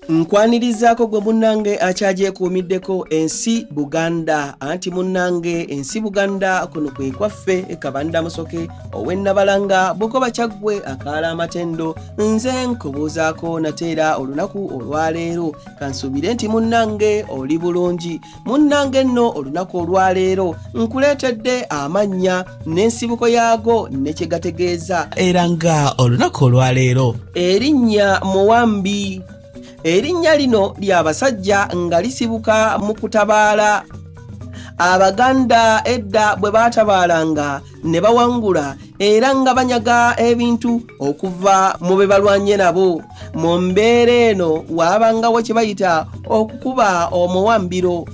nkwanirizaako gwe munnange akyagyekuumiddeko ensi buganda anti munnange ensi buganda kuno kwe kwaffe kabanda musoke owennabalanga bukoba kyaggwe akaala amatendo nze nkubuuzaako nate era olunaku olwaleero kansuubire nti munnange oli bulungi munnange nno olunaku olwaleero nkuleetedde amannya n'ensibuko yaago ne kye gategeeza era nga olunaku olwaleero erinnya muwambi erinnya lino lya basajja nga lisibuka mu kutabaala abaganda edda bwe baatabaalanga ne bawangula era nga banyaga ebintu okuva mu be balwanye nabo mu mbeera eno waabangawo kye bayita okukuba omuwambiro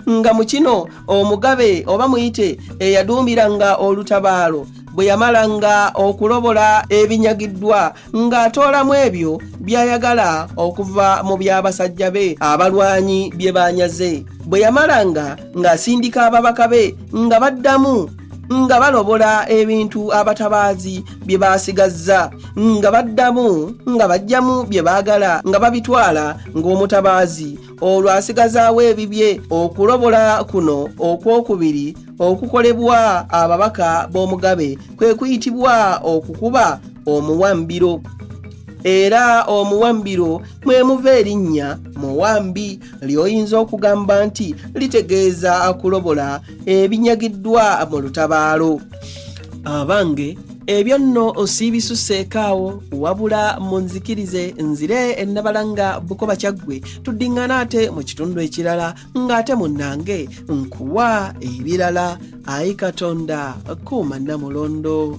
nga mu kino omugabe oba muyite eyaduumiranga olutabaalo bwe yamalanga okulobola ebinyagiddwa ng'atoolamu ebyo by'ayagala okuva mu by'abasajja be abalwanyi bye baanyaze bwe yamalanga ng'asindika ababaka be nga baddamu nga balobola ebintu abatabaazi bye baasigazza nga baddamu nga bajjamu bye baagala nga babitwala ng'omutabaazi olwo asigazaawo ebibye okulobola kuno okwokubiri okukolebwa ababaka b'omugabe kwe kuyitibwa okukuba omuwambiro era omuwambiro mwe muva erinnya muwambi ly'oyinza okugamba nti litegeeza kulobola ebinyagiddwa mu lutabaalo abange ebyo nno osiibisuseekaawo wabula munzikirize nzire ennabalanga bukoba kyaggwe tuddiŋŋana ate mu kitundu ekirala ng'ate munnange nkuwa ebirala ayi katonda kuuma namulondo